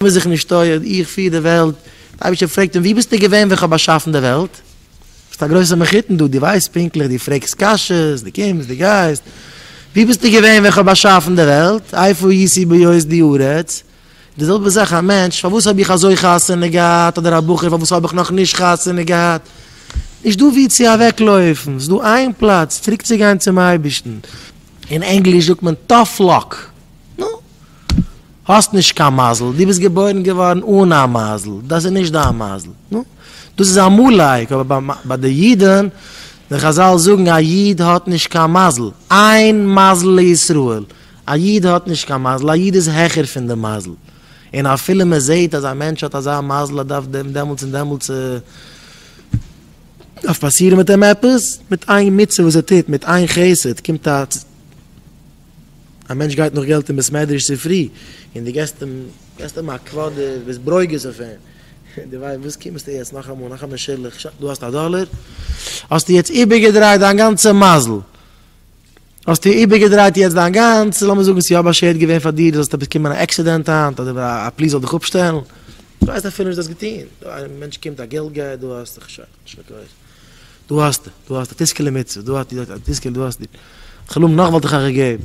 ווער זיך נישט טויערט, איך פיר די וועלט. דער אייבערשטער פרעגט אים, וואו ביסטו געווען ווען כ'האב באשאפן די וועלט? ביסט א גרויסער מחותן דא, דו ווייסט פונקטליך, דו פרעגסט קשיות, דו קומסט, דו גייסט. וואו ביסטו געווען ווען כ'האב באשאפן די וועלט? איפה הייתי בהיות די ארץ? די זעלבע זאך א מענטש, פארוואס האב איך אזוי חתונה געהאט? אדער א בחור, פארוואס האב איך נאך נישט חתונה געהאט? נישט דא וואו צו אוועקלויפן, ס'איז דא איין פלאץ, צוריקצוגיין צום אייבערשטן. אין ענגליש זאגט מען טאף לאק. נו. האסט נישט קיין מזל, דו ביסט געבוירן געווארן אן א מזל, דאס איז נישט דיין מזל. נו, דאס איז אמאלייג, אבער ביי די אידן, די חזל זאגן א איד האט נישט קיין מזל, אין מזל לישראל, א איד האט נישט קיין מזל, א איד איז העכער פון די מזל, און אפילו מען זעט אז א מענטש האט אזא מזל אז דארף דעם דעמאלטס און דעמאלטס דארף פאסירן מיט אים עפעס, מיט איין מצוה וואס ער טוט, מיט איין חסד, קומט א. א מענטש גייט נאך געלט אין בית מדרש צופרי, און דו געסט אים, געסט אים א קוואדער, ביסט ברוגז אויף אים, און דו ווייסט, וואס קומסטו יעצט נאכאמאל, נאך א משה'לעך, שא, דא האסטו א דאלער, האסטו יעצט איבערגעדרייט דיין גאנצע מזל, האסטו איבערגעדרייט יעצט דיין גאנצע, לאמיר זאגן ס'איז יא באשערט געווען פאר דיר, דו זאלסט באקומען א עקסידענט היינט, אדער א פליס זאל דיך אפשטעלן, דו ווייסט אפילו נישט דו האסט געטון, דא א מענטש קומט א געלט גייער, דא האסטו, שא. דו האסט, דו האסט א טיסקעלע מצוה, דו האסט א טיסקעלע, דו האסט די חלום נאך וואלט איך אייך געגעבן.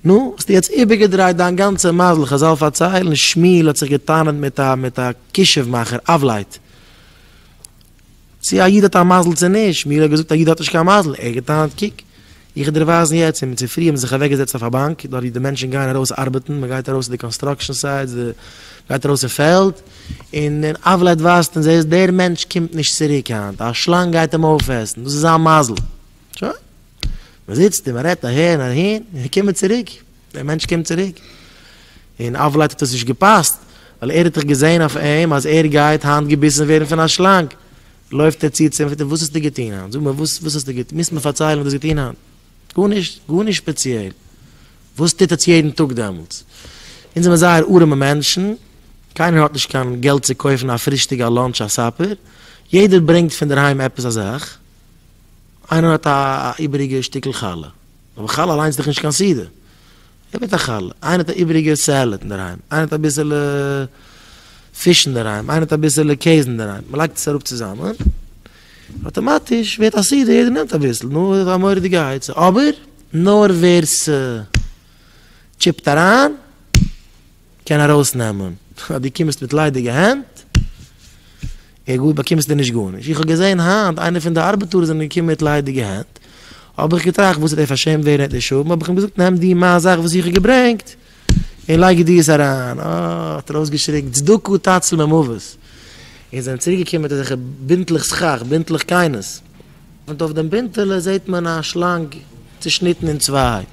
נו, האסט יעצט איבערגעדרייט דיין גאנצע מזל, כזאל פארציילן, שמואל האט זיך גע'טענה'ט מיט א מיט א כישוף מאכער, אבלייט. צו א איד האט א מזל צו נישט, שמואל האט געזאגט א איד האט נישט קיין מזל, ער האט גע'טענה'ט קוק, איך דערווייזן יעצט און צופרי האב מיר זיך אוועקגעזעצט אויף א באנק דארט ווי די מענטשן גייען ארויס ארבעטן, מען גייט ארויס צו די קאנסטראקשען סייטס, די גייט ארויס אין פעלד, און און אייוועלט אדווייזט אונז זעהסט דער מענטש קומט נישט צוריק היינט, א שלאנג גייט אים אויפעסן, דאס איז זיין מזל. שוין, מען זיצט און מען רעדט אהער און אהין, און קומען צוריק, דער מענטש קומט צוריק. און אייוועלט האט עס נישט געפאסט, ווייל ער האט דאך געזעהן אויף אים אז ער גייט היינט געביסן ווערן פון א שלאנג, לויפט ער צו צו אים פרעגט ער וואס האסטו געטון היינט זאג מיר וואס וואס האסטו געטון מוזט מיר פארציילן וואס האסט געטון היינט גארנישט גארנישט ספעציעל וואס טוט עטס יעדן טאג דעמאלטס אונז זעמער זייער ארעמע מענטשן קיינער האט נישט קיין געלט צו קויפן א פרישטאג א לאנטש א סאפער יעדער ברענגט פונדערהיים עפעס א זאך איינער האט א איבעריגע שטיקל חלה אבער חלה אליינס איז דאך נישט קיין סעודה. איך בעט א חלה, איינער האט א איבעריגע סעלעד אינדערהיים, איינער האט אביסעלע פיש אינדערהיים, איינער האט אביסעלע קעז אינדערהיים, מען לייגט עס אראפ צוזאמען, אטאמאטיש ווערט א סדר, יעדער נעמט אביסל, נו, איז א מורא'דיגע עצה, אבער נאר ווער ס'טשיפט אריין. קען ארויסנעמען, אז דו קומסט מיט ליידיגע הענט, איך גא, באקומסטו נישט גארנישט. איך האב געזען היינט איינער פון די ארבעטארס זענען געקומען מיט ליידיגע הענט, האב איך געטראכט וואס איז דער פארשעמט ווערן אויף די שווים, האב איך אים געזאגט נעם דיר מיין זאך וואס איך האב געברענגט און לייג דיר עס אריין, אה, האט ער אויסגעשריגן, צדקה תצל ממוות, און זענען צוריקגעקומען מיט אזעלכע בינטלעך סכך, בינטלעך קיינעס. און אויף דעם בינטעלע זעט מען א שלאנג צעשניטן אין צוויי,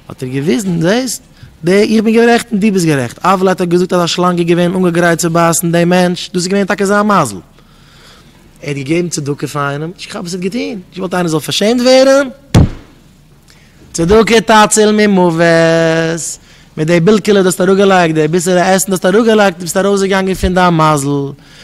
האט ער געוויזן, זעסט, די, איך בין גערעכט און דו ביסט גערעכט, אוודאי האט ער געזאגט אז א שלאנג איז געווען אנגעגרייט צו בייסן דעם מענטש, דאס איז געווען טאקע זיין מזל, ער האט געגעבן צדקה פאר איינעם, נישט כהאב עס נישט געטון, איך וואלט איינער זאל פארשעמט ווערן, צדקה תציל ממוות, מיט די בילקעלע דו האסט אראפגעלייגט, די ביסעלע עסן דו האסט אראפגעלייגט, דו ביסט ארויסגעגאנגען פון דיין מזל,